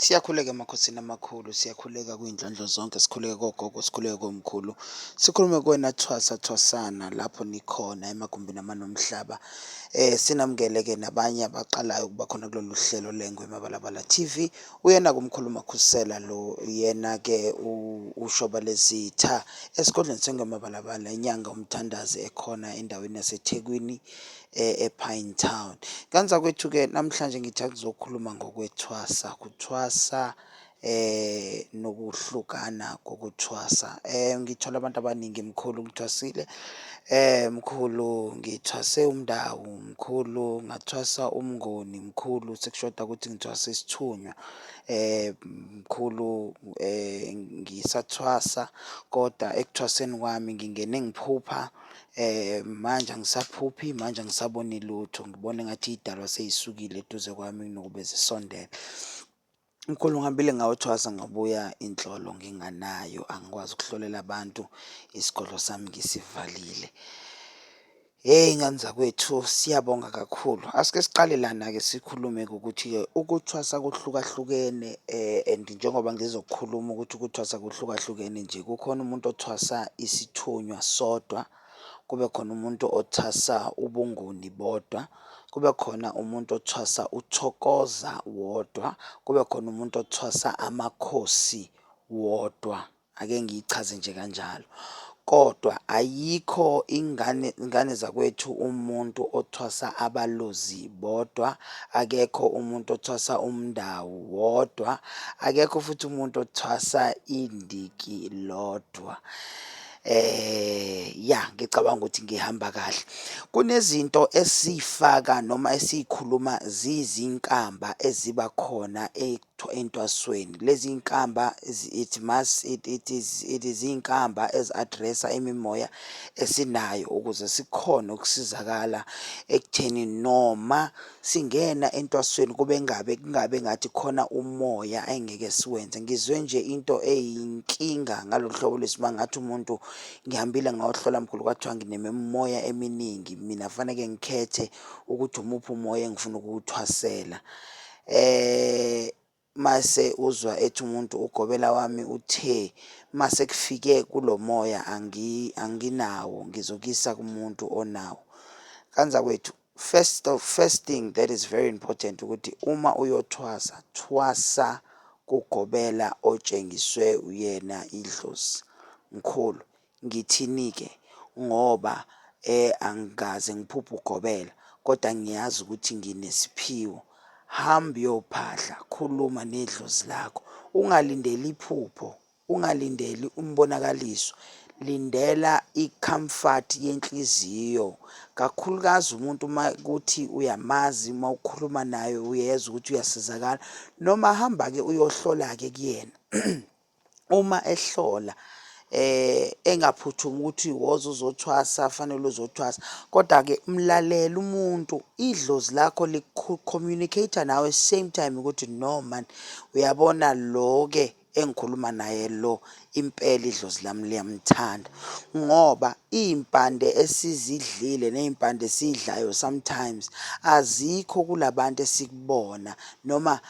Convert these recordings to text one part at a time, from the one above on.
Siyakhuleka emakhosini amakhulu, siyakhuleka kwiy'ndlondlo zonke, sikhuleke kogogo, sikhuleke komkhulu. Sikhulume kuwena thwasa thwasana lapho nikhona emagumbini amanomhlaba. Eh sinamukele-ke nabanye abaqalayo ukuba khona kulolu hlelo lengwe Mabalabala TV. Uyena kumkhulu Makhusela lo, yena-ke ushoba lezitha esigodlweni sengwe Mabalabala, inyanga umthandazi ekhona endaweni yaseThekwini. e- ePine Town. Kanti zakwethu-ke namhlanje ngithi akuzokhuluma ngokwethwasa, kuthwasa eh nokuhlukana kokuthwasa. Eh ngithola abantu abaningi mkhulu ngithwasile. Eh mkhulu ngithwase umndawu, mkhulu ngathwasa umngoni, mkhulu sekushoda ukuthi ngithwasa isithunywa. Eh mkhulu eh ngisathwasa kodwa ekuthwaseni kwami ngingene ngiphupha Eh manje angisaphuphi manje angisaboni lutho ngibona ngathi idalwa seyisukile eduze kwami kunokube zisondele. Umkhulu ngihambile ngayothwasa ngabuya inhlolo nginganayo angikwazi ukuhlolela abantu isigodlo sami ngisivalile. Hey ngani zakwethu siyabonga kakhulu. Asike siqale lana-ke sikhulume-ke ukuthi-ke ukuthwasa kuhlukahlukene and njengoba ngizokhuluma ukuthi ukuthwasa kuhlukahlukene nje kukhona umuntu othwasa isithunywa sodwa kube khona umuntu othwasa ubunguni bodwa kube khona umuntu othwasa uthokoza wodwa kube khona umuntu othwasa amakhosi wodwa. ake ngiyichaze nje kanjalo kodwa ayikho ingane ingane zakwethu umuntu othwasa abalozi bodwa akekho umuntu othwasa umndawu wodwa akekho futhi umuntu othwasa indiki lodwa eh ya ngicabanga ukuthi ngihamba kahle kunezinto esifaka noma esikhuluma zizinkamba eziba khona Tho entwasweni. Lezi inkamba it must it, it is it is inkamba ezi addressa imimoya esinayo ukuze sikhone ukusizakala ekutheni noma singena entwasweni kube ngabe kungabe ngathi khona umoya engeke siwenze. Ngizwe nje into eyinkinga ngalolu hlobo lwesima ngathi umuntu ngihambile ngayohlola mkhulu kwathiwa nginemimoya eminingi mina faneke ngikhethe ukuthi umuphi umoya engifuna ukuwuthwasela. eh mase uzwa ethi umuntu ugobela wami uthe mase kufike kulomoya angi anginawo ngizokisa kumuntu onawo kanza kwethu first of first thing that is very important ukuthi uma uyothwasa thwasa kugobela otshengiswe uyena idlozi mkhulu ngithini-ke ngoba angikaze ngiphuphe ugobela kodwa ngiyazi ukuthi nginesiphiwo. Hamba uyophahla, khuluma nedlozi lakho. Ungalindeli iphupho, ungalindeli umbonakaliso. Lindela i-comfort yenhliziyo, kakhulukazi umuntu uma kuthi uyamazi uma ukhuluma naye uyezwa ukuthi uyasizakala. Noma hamba-ke uyohlola-ke kuyena uma ehlola eh engaphuthumi ukuthi woza uzothwasa fanele uzothwasa kodwa ke mlalele umuntu idlozi lakho licommunicate nawe same time ukuthi no man uyabona lo ke engikhuluma naye lo impela idlozi lami liyamthanda ngoba izimpande esizidlile nezimpande esidlayo sometimes azikho kulabantu esikubona noma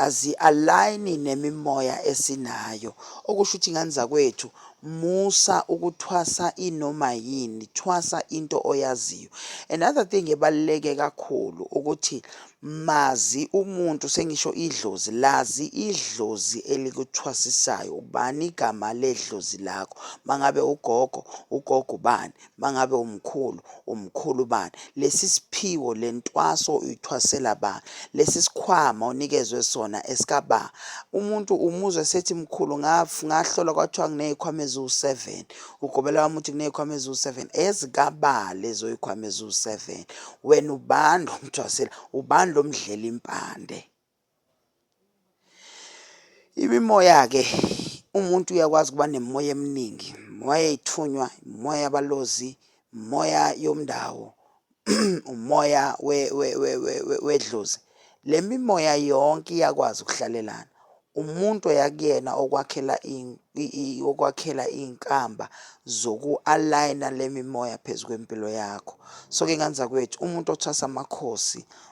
azi-align nemimoya esinayo okusho ukuthi ngane zakwethu musa ukuthwasa inoma yini thwasa into oyaziyo another thing ebaluleke kakhulu ukuthi mazi umuntu sengisho idlozi lazi idlozi elikuthwasisayo ubani igama ledlozi lakho mangabe ugogo ugogo ubani mangabe umkhulu umkhulu bani lesi siphiwo lentwaso uyithwasela ba lesi sikhwama onikezwe sona esikaba umuntu umuzwe sethi mkhulu ngahlola kwathiwa nginezikhwama eziwu7 ugobela wami uthi kunezikhwama eziwu7 ezikaba lezo zikhwama eziwu7 wena ubani lomthwasela ubani lomdlela impande Imimoya-ke, umuntu uyakwazi ukuba nemimoya eminingi, imimoya yey'thunywa, imimoya yabalozi, imimoya yomndawo, umoya wedlozi. Le mimoya yonke iyakwazi ukuhlalelana. Umuntu oya kuyena okwakhela okwakhela iy'nkamba zoku-align-a le mimoya phezu kwempilo yakho. So-ke ngani zakwethu, umuntu othwasa amakhosi,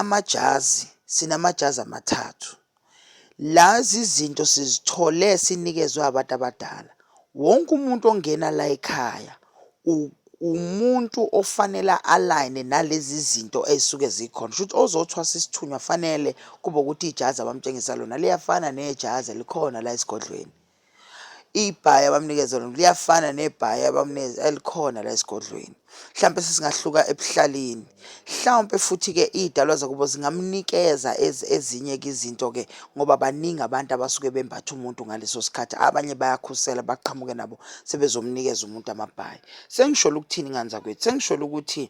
Amajazi, sinamajazi amathathu. La zizinto sizithole sinikezwe abantu abadala. Wonke umuntu ongena la ekhaya umuntu ofanele alayine nalezi zinto ey'suke zikhona. Shuthi ozothwasa isithunywa fanele kube ukuthi ijazi abamtshengisa lona liyafana nejazi elikhona la esigodlweni. ibhayi abamnikeza lona liyafana nebhayi abamnikeza elikhona la esigodlweni mhlawumbe sesingahluka ebuhlalini mhlawumbe futhi-ke iy'dalwa zakubo zingamnikeza ezinye-ke izinto-ke ngoba baningi abantu abasuke bembatha umuntu ngaleso sikhathi abanye bayakhusela baqhamuke nabo sebezomnikeza umuntu amabhayi sengisholo ukuthini ngani zakwethu sengisholo ukuthi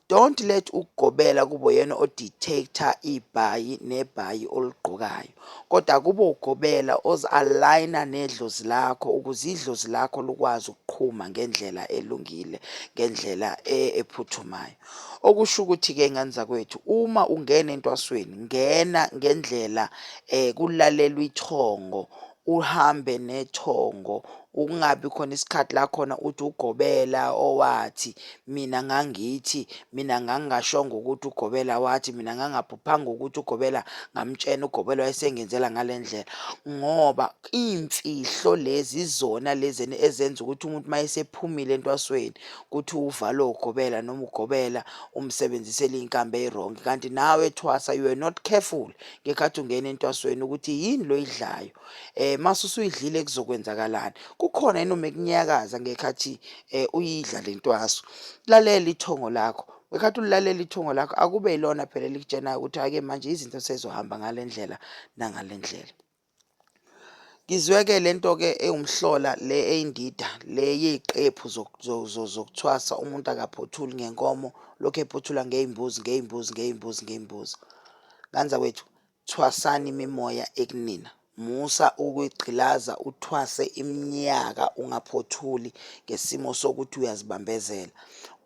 don't let ukugobela kubo yena odictator ibhayi nebhayi oligqokayo kodwa kube ugobela ozi-alayina nedlozi lakho ukuze idlozi lakho lukwazi ukuqhuma ngendlela elungile ngendlela e, ephuthumayo okusho ukuthi-ke ngane zakwethu uma ungena entwasweni ngena ngendlela um kulalelwa ithongo uhambe nethongo ukungabi khona isikhathi la khona uthi ugobela owathi mina ngangithi mina ngangingashongo ukuthi ugobela wathi mina ngangaphuphanga ukuthi ugobela ngamtshena ugobela wayesengenzela ngale ndlela ngoba iy'mfihlo lezi zona lezi ezenza ukuthi umuntu uma esephumile entwasweni kuthi uvalo ugobela noma ugobela umsebenzisela iy'nkambi ey'rongi kanti nawe ethwasa you are not careful ngekhathi ungena entwasweni ukuthi yini lo yidlayo eh mase usuyidlile kuzokwenzakalani kukhona yini uma kunyakaza ngekhathi eh uyidla lentwaso lalela ithongo lakho ngekhathi ulilalela ithongo lakho akube ilona phela likutshena ukuthi ake manje izinto sezohamba ngalendlela nangalendlela ngizweke lento ke ewumhlola le eyindida le yeziqephu zokuthwasa umuntu akaphothuli ngenkomo lokho ephothula ngezimbuzi ngezimbuzi ngezimbuzi ngezimbuzi kanza wethu Thwasani imimoya ekunina. Musa ukuyigqilaza uthwase iminyaka ungaphothuli ngesimo sokuthi uyazibambezela.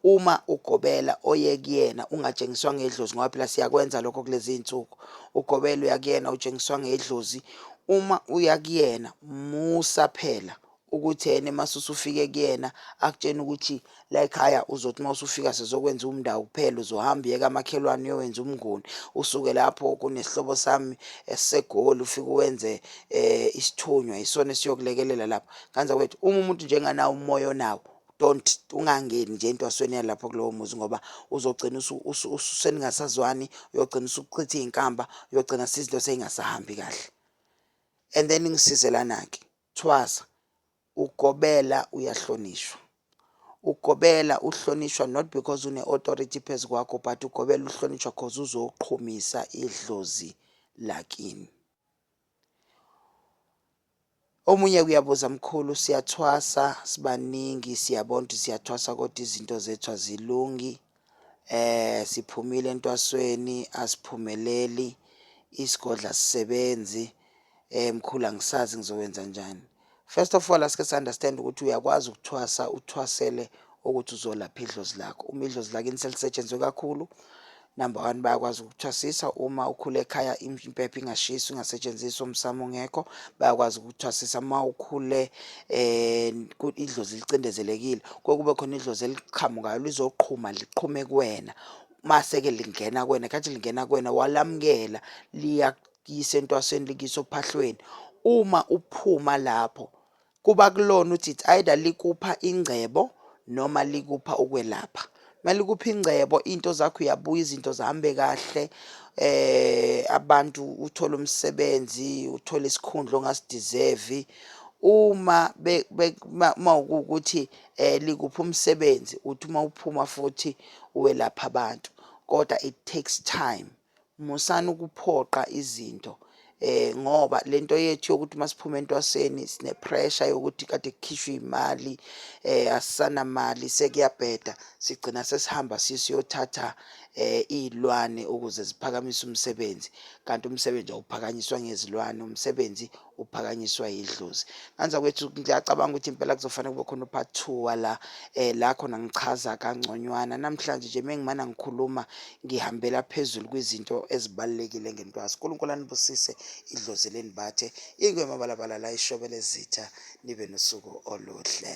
Uma ugobela oye kuyena ungatshengiswa ngedlozi ngoba phela siyakwenza lokho kulezi iy'nsuku. Ugobela uya kuyena utshengiswa ngedlozi. Uma uya kuyena musa phela ukuthi yena mase usufike kuyena akutshena ukuthi la ekhaya uzothi uma usufika sizokwenza umndawo kuphela uzohamba yeka amakhelwane uyowenza umnguni usuke lapho kunesihlobo sami esisegoli ufike uwenze eh isithunywa isona esiyokulekelela lapho kanza kwethu uma umuntu njenganawo umoya onawo don't ungangeni nje entwasweni yalapho kulowo muzi ngoba uzogcina ususeningasazwani uyogcina usuchitha iy'nkamba uyogcina sizinto sey'ngasahambi kahle and then ngisizelana-ke Thwasa, Ugobela uyahlonishwa. Ugobela uhlonishwa not because une authority phezu kwakho but ugobela uhlonishwa cause uzoqhumisa idlozi lakini. Omunye kuyabuza mkhulu siyathwasa sibaningi siyabona ukuthi siyathwasa kodwa izinto zethu azilungi. Eh siphumile entwasweni asiphumeleli isigodla sisebenzi eh mkhulu angisazi ngizokwenza njani. First of all asike si understand ukuthi uyakwazi ukuthwasa uthwasele ukuthi uzolapha idlozi lakho. Uma idlozi lakini selisetshenzwe kakhulu number one bayakwazi ukuthwasisa uma ukhule ekhaya impepho ingashiswa ingasetshenziswa umsamo ungekho bayakwazi ukuthwasisa uma ukhule um idlozi licindezelekile kuye kube khona idlozi eliqhamukayo lizoqhuma liqhume kuwena mase-ke lingena kuwena khathi lingena kuwena walamukela liyakuyisa entwasweni likuyisa ophahlweni uma uphuma lapho kuba kulona ukuthi it's either likupha ingcebo noma likupha ukwelapha kumele kuphi ingcebo into zakho uyabuya izinto zihambe kahle eh abantu uthola umsebenzi uthola isikhundla ongasideserve uma uma ukuthi eh likuphi umsebenzi uthi uma uphuma futhi uwelapha abantu kodwa it takes time musani ukuphoqa izinto eh ngoba lento yethu yokuthi masiphuma entwaseni sine pressure yokuthi kade kukhishwe imali eh asisana mali sekuyabheda sigcina sesihamba sisiyothatha eh izilwane ukuze ziphakamise umsebenzi kanti umsebenzi awuphakanyiswa ngezilwane umsebenzi uphakanyiswa yidlozi kanza kwethu ngiyacabanga ukuthi impela kuzofanele kube khona upart two wala um la khona ngichaza kangconywana namhlanje nje mengimana ngikhuluma ngihambela phezulu kwizinto ezibalulekile ngentwazi unkulunkulu anibusise idlozi lenibathe ingwemabalabala la ishobele zitha nibe nosuku oluhle